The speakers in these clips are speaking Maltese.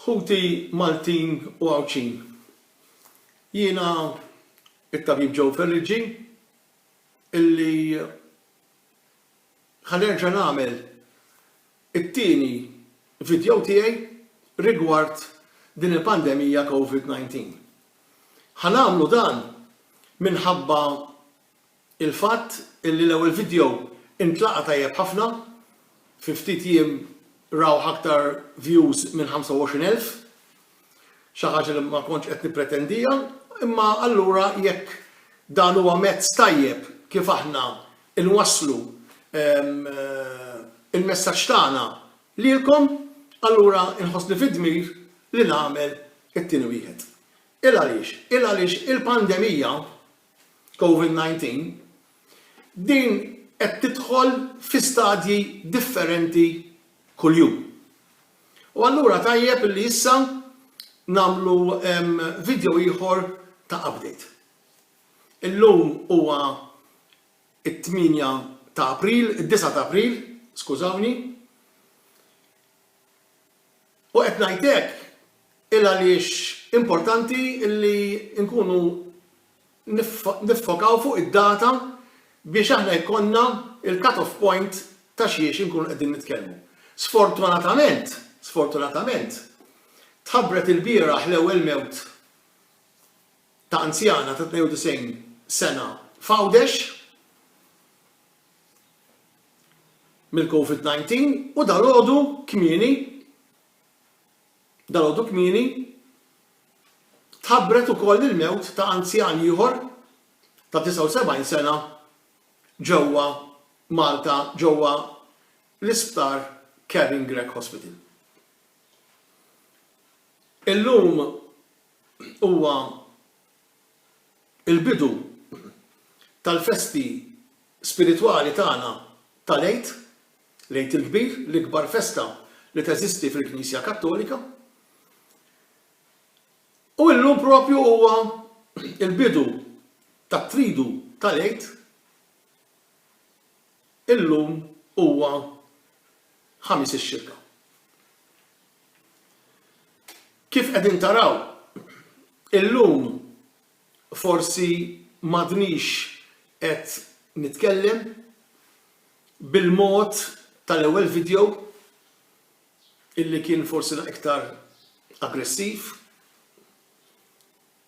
Ħuti Maltin u Għawdxin, jiena t-Tabib Joe Ferriggi illi ħa nerġa' nagħmel it-tieni vidjow tiegħi rigward din il-pandemija Covid 19. Ħa nagħmlu dan minħabba Il-fatt li l-ewwel vidjow intlaqa' tajjeb ħafna, fi ftit jiem rawh aktar views minn 25 elf, xi ħaġa li ma kontx qed nippretendiha, imma allura jekk dan huwa mezz tajjeb kif aħna nwasslu l-messaġġ tagħna lilkom, allura nħossni fid-dmir li nagħmel it-tieni wieħed. Il għaliex? Il għaliex il-pandemija Covid-19, din qed tidħol fi stadji differenti kuljum. U allura tajjeb illi issa nagħmlu video ieħor ta' update. Illum huwa it-tmienja ta' April, id-disgħa ta' April, skużawni, U qed ngħid hekk il għaliex importanti li nkunu niffokaw fuq id-data biex aħna jkollna l-cut off point ta' xiex inkunu qegħdin nitkellmu. Sfortunatament, sfortunatament, tħabbret ilbieraħ l-ewwel mewt ta' anzjana ta' 92 sena f'Għawdex, mill-Covid 19 u dalgħodu kmieni dalgħodu kmieni tħabbret ukoll il-mewt ta' anzjan ieħor ta' 79 sena ġewwa Malta ġewwa l-Isptar Kevin Grech Hospital. Illum huwa il-bidu tal-festi spiritwali tagħna tal-Għid, l-Għid il-Kbir, l-ikbar festa li teżisti fil-Knisja Kattolika. U illum propju huwa l-bidu tat-Tridu tal-Għid, illum huwa Ħamis ix-Xirka. Kif qegħdin taraw, illum forsi m'għadnix qed nitkellem bil-mod tal-ewwel video illi kien forsi naqra iktar aggressiv.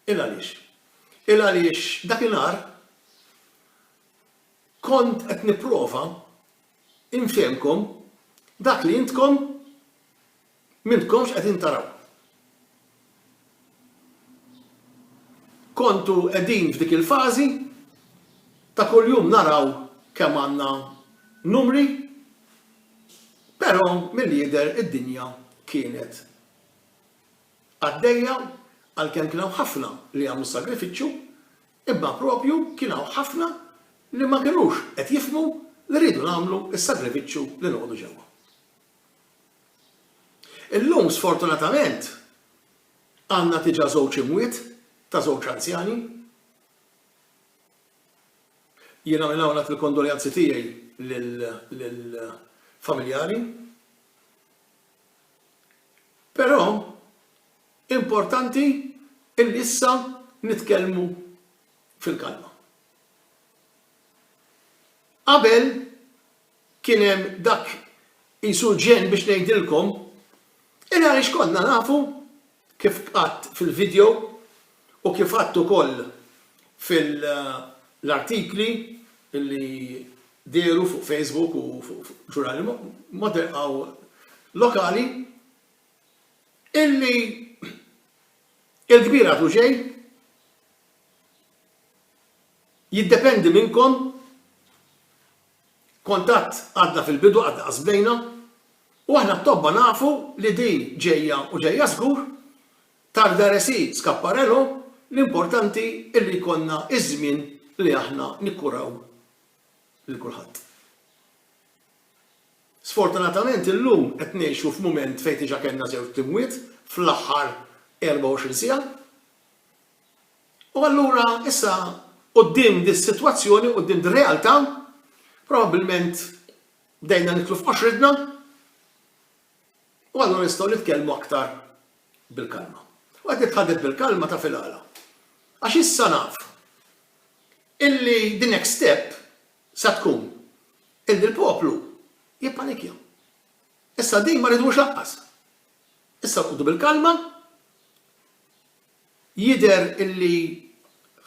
Il għaliex? Il għaliex dakinhar kont qed nipprova infehmkom dak li intkom M'intkomx qegħdin taraw. Kontu qegħdin f'dik il-fażi ta' kuljum naraw kemm għandna numri, però milli jidher id-dinja kienet għaddejja għalkemm kien hawn ħafna li għamlu s-sagrifiċċju, imma proprju kien hawn ħafna li ma kinux qed jifhmu li rridu nagħmlu s-sagrifiċċju li noqogħdu ġewwa. Illum sfortunatament għandna diġà żewġ imwiet ta' żewġ anzjani. Jiena minn hawn ngħadd il-kondoljanzi tiegħi lill-familjari. Però importanti illi issa nitkellmu fil-kalma. Qabel Kien hemm dak qisu ġenn biex ngħidilkom, il għaliex konna nafu, kif għadt fil-video u kif għadt ukoll fil-artikli li dehru fuq Facebook u fuq ġurnali modern u lokali, illi il-kbir għadu ġej, jiddependi minnkom, Kontatt għadna fil-bidu għadna qas bdejna u aħna t-tobba nafu li din ġejja u ġejja żgur, tal veresi Scapparello, l-importanti illi jkollna iż-żmien li aħna nikkuraw lil kulħadd. Sfortunatament illum qed ngħixu f'mument fejn diġa kellna żewġt imwiet fl-aħħar 24 siegħa. U allura issa quddiem dis-sitwazzjoni, quddiem dir-realtà, probabbilment bdejna niklu f'qoxritna u allura nistgħu nitkellmu aktar bil-kalma. U qed nitħaddet bil-kalma taf il-għala. Għax issa naf illi the next step sa tkun illi l-poplu jippanikja. Issa din ma ridux laqqas. Issa nqogħdu bil-kalma Jidher illi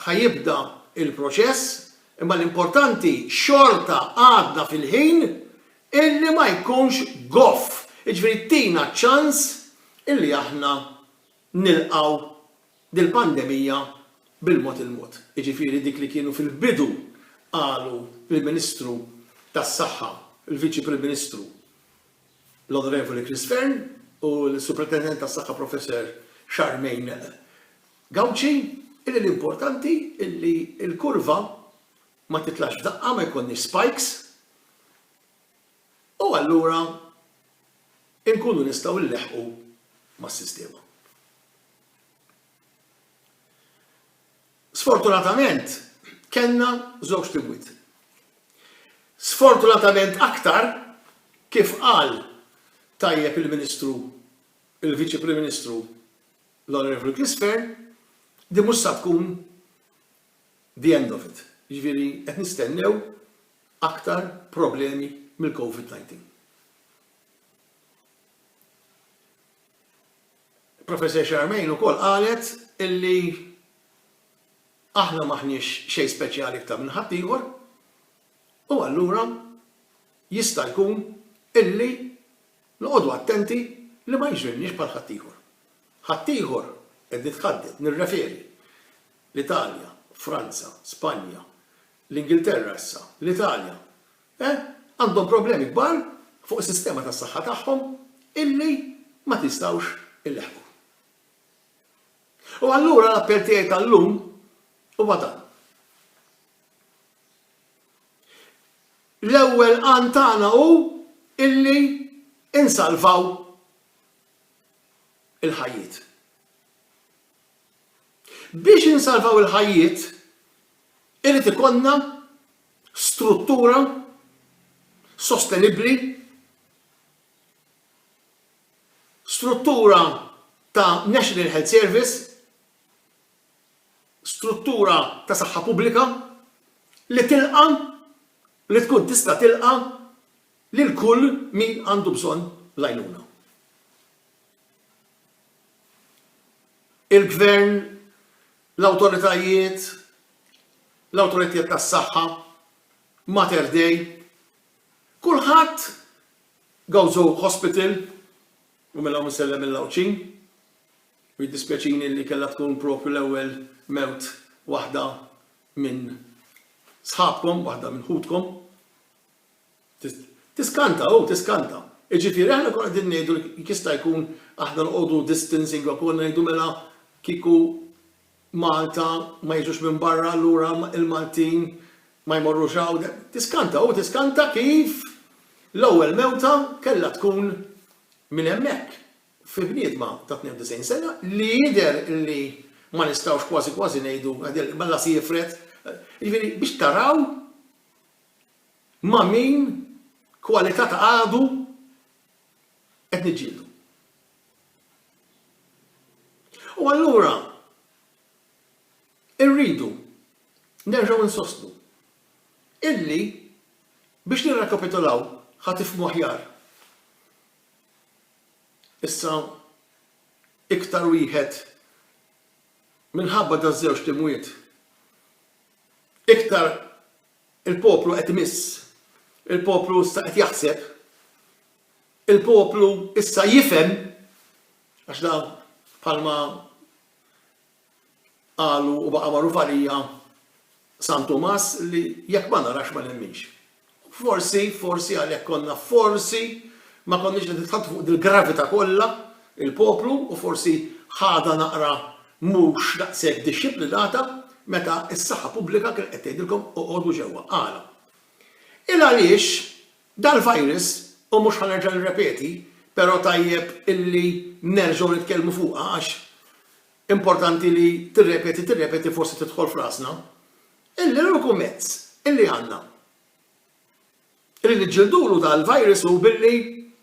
ħa jibda il-proċess imma l-importanti xorta għadna fil-ħin illi ma jkunx goff, jiġifieri tina ċans illi aħna nilqgħu dil-pandemija bil-mod il-mod, jiġifieri dik li kienu fil-bidu qalu l-Ministru tas-Saħħa, il-Viċi Prim Ministru. l-Onorevoli Chris Fearne u l-Superintendent tas-Saħħa Professor Charmaine Gauci illi l-importanti illi l-kurva ma titlax f'daqqa, ma jkollniex spikes u allura inkunu nistgħu nleħħqu mas-sistema. Sfortunatament kellna żewġt imwiet. Sfortunatament aktar, kif qal tajjeb il-Ministru, il-Viċi Prim Ministru, l-Onorevoli Chris Fearne, din mhux sa tkun the end of it. Jiġifieri qed nistennew aktar problemi mill-Covid 19. Il-Professor Charmaine ukoll qalet illi aħna m'aħniex xejn speċjali iktar minn ħaddieħor u allura jista' jkun illi noqogħdu attenti li ma jiġrilniex bħal ħaddieħor. Ħaddieħor, qed nitħadded, nirreferi, l-Italja, Franza, Spanja, l-Ingilterra issa, l-Italja, Eh, għandhom problemi kbar fuq is-sistema tas-saħħa tagħhom illi ma tistgħux ileħħqu. U allura l-appell tiegħi tal-lum huwa dan. L-ewwel għan tagħna hu illi insalvaw il-ħajjiet. Biex insalvaw il-ħajjiet irid ikollna struttura sostenibbli, struttura ta' National Health Service, struttura ta' saħħa pubblika li tilqa' li tkun tista' tilqa' lil kull min għandu bżonn l-għajnuna. il-Gvern, l-awtoritajiet, l-awtoritiet tas-saħħa, Mater Dei, kulħadd, Gozo Hospital, u minn hawn insellem lill-Għawdxin, u jiddispjaċini li kellha tkun propju l-ewwel mewt waħda minn sħabkom, waħda minn ħutkom. Tiskanta, hu tiskanta. Jiġifieri aħna nkunu qegħdin ngħidu li jekk jista' jkun aħna noqogħdu distancing u konna ngħidu mela kieku Malta ma jiġux minn barra allura l-Maltin ma jmorrux hawn. Tiskanta, hu tiskanta kif l-ewwel mewta kellha tkun minn hemmhekk, fi bniedma ta' 92 sena li jidher li ma nistgħux kważi kważi ngħidu mela se jifred. Jiġifieri biex taraw Ma' min kwalità ta' għadu qed niġġieldu? U allura irridu nerġgħu insostnu illi biex nirrekapitulaw ħa tifhmu aħjar issa iktar wieħed minħabba daż-żewġt imwiet iktar Il-poplu qed imiss. Il-poplu issa qed jaħseb. Il-poplu issa jifhem, għax dan bħalma qalu u baqa' magħruf għalija San Tumas li jekk ma narax ma nemminx. Forsi, forsi għalhekk konna forsi ma konniex qed nitħaddtu fuq dil-gravità kollha il-poplu u forsi ħadha naqra mhux daqshekk dixxiplinata meta s-saħħa pubblika kienet qed tgħidilkom oqogħdu ġewwa. Għala? Il għaliex dal-virus, u mhux ħa nerġa' nirrepeti, però tajjeb illi nerġgħu nitkellmu fuqha għax importanti li tirrepeti tirrepeti forsi tidħol f'rasna, il-uniku mezz illi għandna li niġġildulu dal-virus hu billi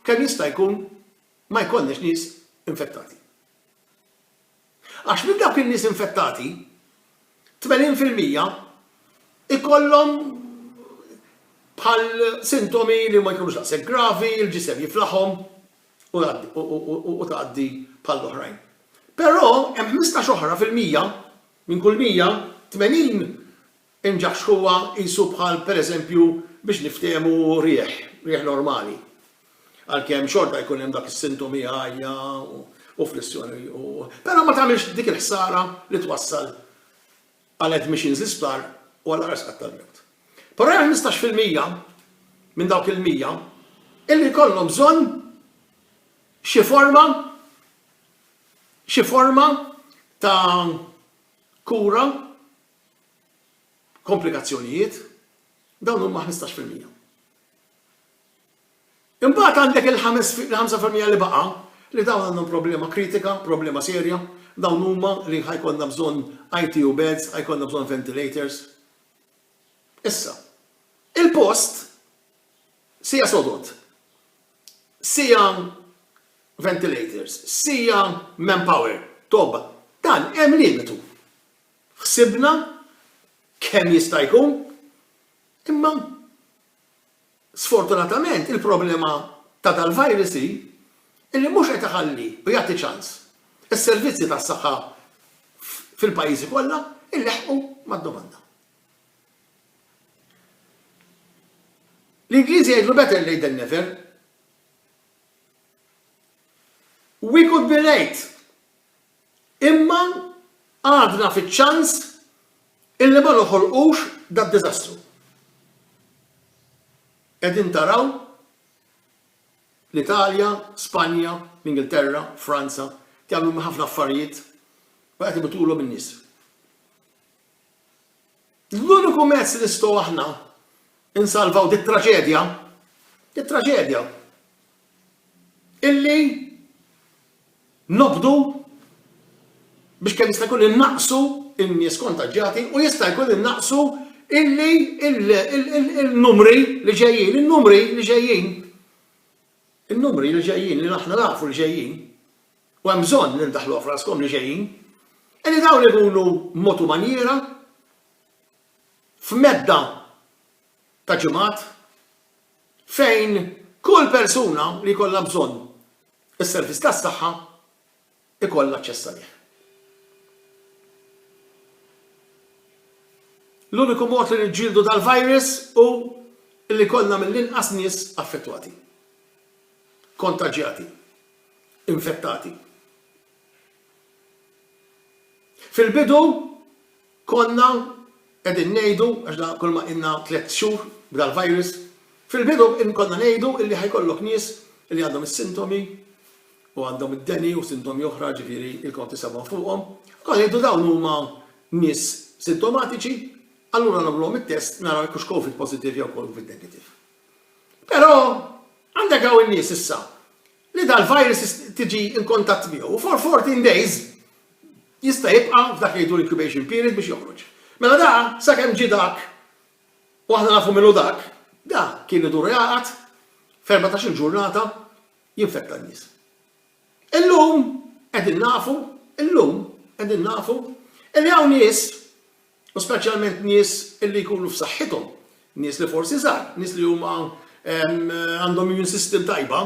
kemm jista' jkun ma jkollniex nies infettati. Għax minn dawk in-nies infettati, 80 fil-mija jkollhom bħal sintomi li ma jkunux daqshekk gravi, il-ġisem jiflaħhom u tgħaddi bħall-oħrajn. Però hemm ħmistax oħra fil-mija, minn kull 100, 80 Inġaxxħuha qisu bħal pereżempju biex niftehmu riħ, riħ normali. Għalkemm xorta jkun hemm dak is-sintomi għajja u flissjoni u però ma tagħmilx dik il-ħsara li twassal għal admissions l-isptar u għal aqra sqatt tal-mewt. Però hemm ħmistax fil-mija minn dawk il-mija illi jkollhom bżonn xi forma xi forma ta' kura komplikazzjonijiet, dawn huma ħmistax fil-mija. Imbagħad għandek il-ħames il-ħamsa fil-mija li baqa' li dawn għandhom problema kritika, problema serja, dawn huma li ħa jkollna bżonn ITU beds, ħa jkollna bżonn ventilators. Issa, il-post sija sodod, sija ventilators, sija manpower, tobba, dan hemm limitu. Ħsibna kemm jista' jkun, imma sfortunatament il-problema ta' dal-virus hi illi mhux qed iħalli u jagħti ċans is-servizzi tas-saħħa fil-pajjiżi kollha jleħħqu mad-domanda. L-Ingliżi jgħidlu better late than never. We could be late Imma għadna fiċ-ċans illi ma noħolqux dad-diżastru. Qegħdin taraw l-Italja, Spanja, l-Ingilterra, Franza qed jagħmlu ħafna affarijiet u qed imutulhom in-nies. L-uniku mezz li nistgħu aħna nsalvaw dit-traġedja, dit-traġedja, illi nobdu biex kemm jista' jkun innaqqsu n-nies kontaġġjati u jista' jkun innaqqsu illi il-numri li ġejjin, in-numri li ġejjin, in-numri li ġejjin li aħna nafu li ġejjin. u hemm bżonn li ddaħħluha f'raskom li ġejjin, hi li dawn ikunu b'mod u manjiera f'medda ta' ġimgħat fejn kull persuna li jkollha bżonn is-servizz tas-saħħa jkollha aċċess għalih. L-uniku mod li niġġieldu dal-virus hu li jkollna mill-inqas nies affettwati, kontaġġjati. infettati. Fil-bidu konna qegħdin ngħidu, għax da kull ma qinna tliet xhur b'dal-virus, fil-bidu konna ngħidu li ħajkollok nies li għandhom is-sintomi u għandhom id-deni u sintomi oħra ġifieri il-kont isewwhom fuqhom, konna ngħidu dawn huma nies sintomatiċi, allura nagħmluhom it-test naraw jekk hux Covid positive jew Covid negative. Però għandek hawn in-nies issa li dal-virus tiġi in kontatt miegħu u for 14 days jista' jibqa' f'dak li jgħidu l-incubation period biex joħroġ. Mela da sakemm ġie dak u aħna nafu min hu dak, da kien idur jgħaqad f'erbatax-il ġurnata jinfetta n-nies. Illum qegħdin nafu, illum qegħdin nafu li hawn nies U speċjalment nies li jkunu f'saħħithom, nies li forsi żgħar, nies li huma għandhom immune system tajba,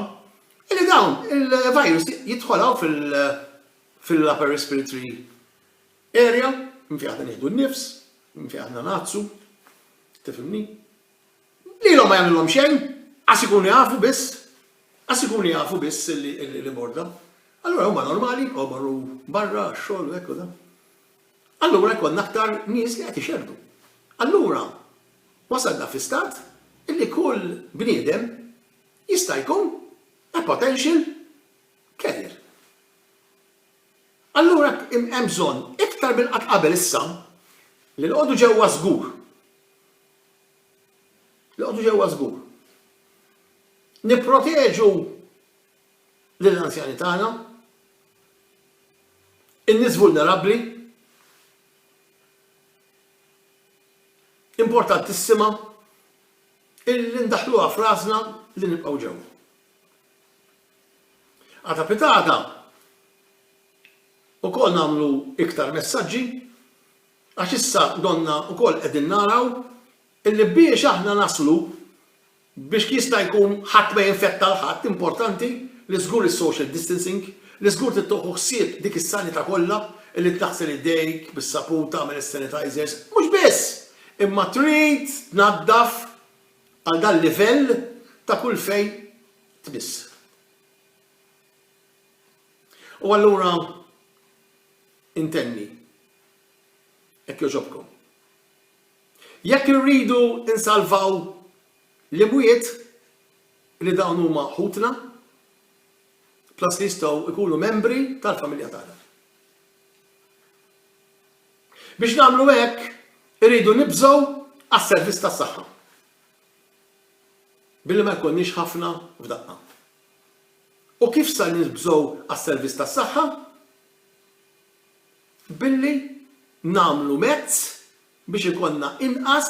illi dawn il-virus jidħol hawn fil-upper respiratory area, minn fejn aħna nieħdu n-nifs, minn fejn aħna ngħattsu, tifhimni? Lilhom ma jagħmilhom xejn, għax ikunu jafu biss, għax ikunu jafu biss li morda. Allura huma normali, jibqgħu marru barra, xogħol, hekk u dan. Allura jkollna aktar nies li qed ixerrdu. Allura wasalna fi stat illi kull bniedem jista' jkun a potential carrier. Allura hemm bżonn iktar minn qatt qabel issa li noqogħdu ġewwa żgur. Noqogħdu ġewwa żgur. Nipproteġu lill-anzjani tagħna, in-nies vulnerabbli, importantissima illi ndaħħluha f'rasna li nibqgħu ġewwa. Għata pitata ukoll nagħmlu iktar messaġġi għax issa donna ukoll qegħdin naraw illi biex aħna naslu Biex jista' jkun ħadd ma jinfetta l ħadd, importanti li żgur is-social distancing, li żgur trid toħu ħsieb dik is-sanità kollha, li taħsel idejk bis-sapun, tagħmel is-sanitizers, mhux biss! Imma trid tnaddaf għal dan livell ta' kull fejn tmiss. U allura intenni, hekk jogħġobkom. Jekk irridu nsalvaw l-imwiet, li dawn huma ħutna, plus li jistgħu jkunu membri tal-familja tagħna. Biex nagħmlu hekk, irridu nibżgħu għas-servizz tas-saħħa, billi ma jkollniex ħafna f'daqqa. U kif ser nibżgħu għas-servizz tas-saħħa? Billi nagħmlu mezz biex ikollna inqas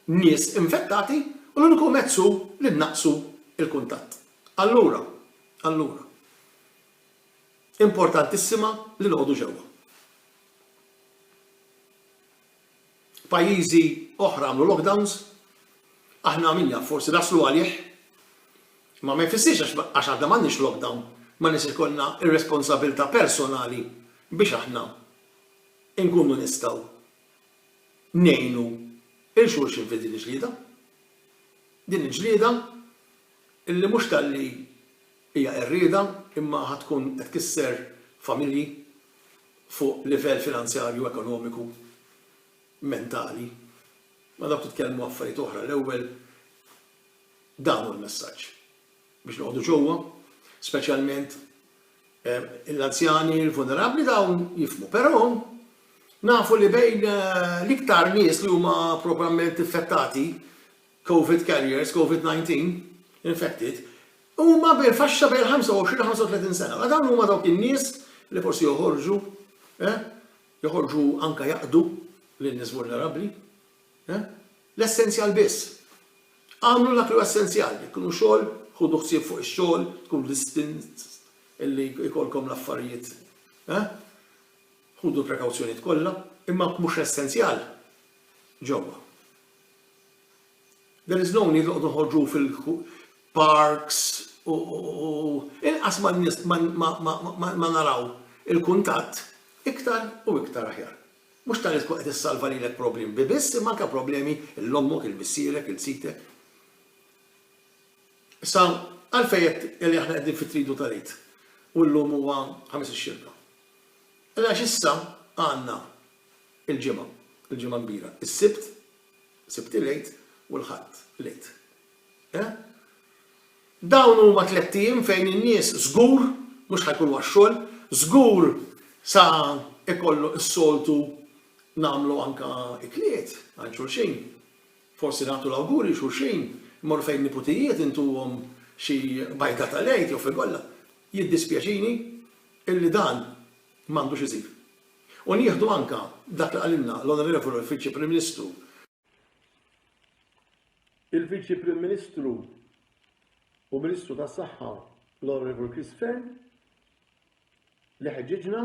nies infettati u l-uniku mezz hu li nnaqqsu l-kuntatt. Allura, allura, importantissima li noqogħdu ġewwa. Pajjiżi oħra għamlu lockdowns, aħna min jaf forsi naslu għalih, imma ma jfissirx għax għax aħna m'għandniex lockdown ma nistgħux ikollna r-responsabilità personali biex aħna nkunu nistgħu ngħinu lil xulxin fi din il-ġlieda. Din il-ġlieda illi mhux talli hija qerrieda imma ħa tkun qed tkisser familji fuq livell finanzjarju, ekonomiku, mentali. Ma dawk titkellmu affarijiet oħra l-ewwel dan hu l-messaġġ. biex noqogħdu ġewwa, speċjalment l-anzjani, il-vulnerabbli dawn jifhmu. Però nafu li bejn l-iktar nies li huma proprament infettati, COVID carriers, COVID-19 infected, huma bejn faxxa bejn 25-35 sena. Ma dawn huma dawk in-nies li forsi joħorġu, eh? joħorġu anka jaqdu lin-nies vulnerabbli. Eh? L-essenzjal biss. Agħmlu dak li hu essenzjal. Jekk hu xogħol, ħudu ħsieb fuq ix-xogħol, tkun distinct li jkollkom l-affarijiet, eh? Ħudu l-prekawzjonijiet kollha, imma b'mhux essenzjal, ġewwa. There is no need li noqogħdu noħorġu fil-parks u inqas ma naraw il-kuntatt, iktar u iktar aħjar. Mhux tant li tkun qed issalva lilek problemi bi biss imma anke problemi 'l ommok, 'il missierek, 'il sitek. Issa, għalfejn qed li aħna qegħdin fit-Tridu tal-Għid u llum huwa Ħamis ix-Xirka? Qal għax issa għandna il-Ġimgħa, il-Ġimgħa Kbira, is-Sibt, Sibt il-Għid, u l-Ħadd, l-Għid. Eh? Dawn huma tlett ijiem fejn in-nies żgur mhux ħa jkunu għax-xogħol, żgur sa jkollu s-soltu nagħmlu anke ikliet għand xulxin, forsi nagħtu l-awguri xulxin, immorru fejn niputijiet intuhom xi bajda tal-Għid jew frigolla. Jiddispjaċini illi dan m'għandux isir. U nieħdu anke dak li qalilna l-Onorevoli Viċi Prim Ministru, Il-Viċi Prim Ministru u Ministru tas-Saħħa l-Onorevoli Chris Fern li ħeġġiġna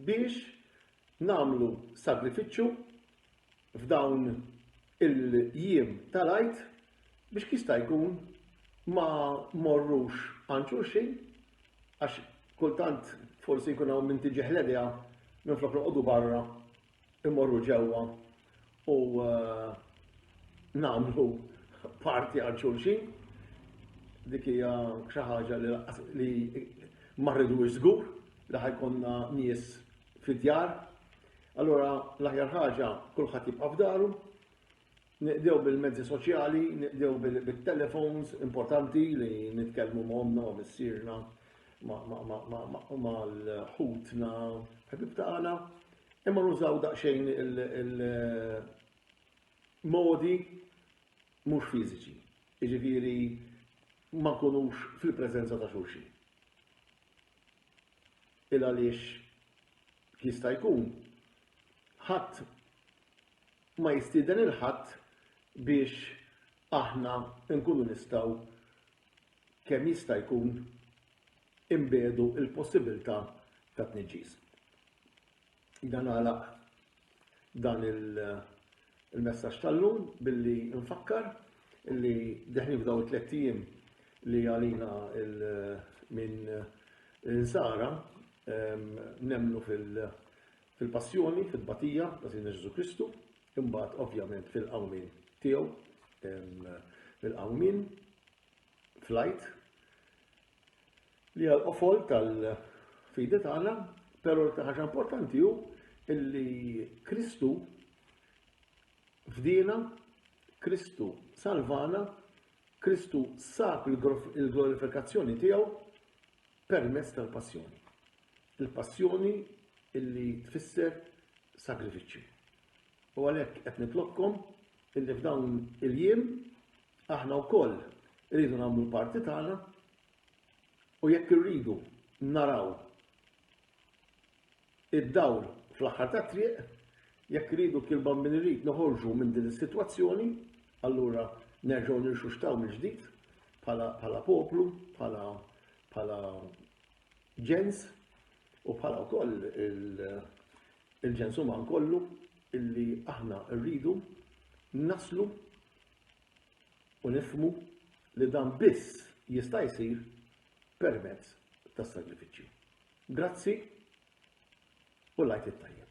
biex namlu sagrifiċċju f'dawn il-jiem tal-Għid biex kif jista' jkun ma mmorrux għand xulxin għax kultant forsi jkun hawn min tiġih l-idea minflok noqogħdu barra immorru ġewwa u eh, nagħmlu parti għal xulxin. Dik hija xi ħaġa li ma rridux żgur li ħajkonna nies fid-djar Allura l-aħjar ħaġa kulħadd jibqa' f'daru, niqdew bil-mezzi soċjali, niqdew bil-telefons, importanti li nitkellmu ma' omna, ma' missirna, ma' l-ħutna, ħbib tagħna, imma nużaw daqsxejn il-modi mhux fiżiċi. Jiġifieri ma nkunux fil-preżenza ta' xulxin. Il għaliex Jista' jkun ħadd ma jistieden lil ħadd biex aħna nkunu nistgħu kemm jista' jkun inbiegħdu l-possibilità ta' tniġġis. Jiena nagħlaq dan il il-messaġġ tal-lum billi nfakkar li deħlin f'dawn it-tlett ijiem li għalina minn l-insara nemmnu fil-passjoni, fit-tbatija ta' Sidna Ġesù Kristu, imbagħad ovvjament fil-qawmien tiegħu, fil-qawmien, fl-Għid, li hija l-qofol tal-fidi tagħna, però l ħaġa importanti hu illi Kristu fdina, Kristu salvana, Kristu sab il-glorifikazzjoni tiegħu permezz tal-passjoni. Il-passjoni illi tfisser sagrifiċċju. U għalhekk qed nitlobkom illi f'dawn il-jiem aħna wkoll rridu nagħmlu l-parti tagħna u jekk irridu naraw id-dawl fl-aħħar tat-triq, jekk irridu kien bambin irrid noħorġu minn din is-sitwazzjoni, allura nerġgħu nirxuxtaw mill-ġdid bħala poplu, bħala ġens u bħala wkoll il-ġens uman kollu illi aħna rridu naslu u nifhmu li dan biss jista' jsir permezz tas-sagrifiċċju. Grazzi u l-Għid it-Tajjeb.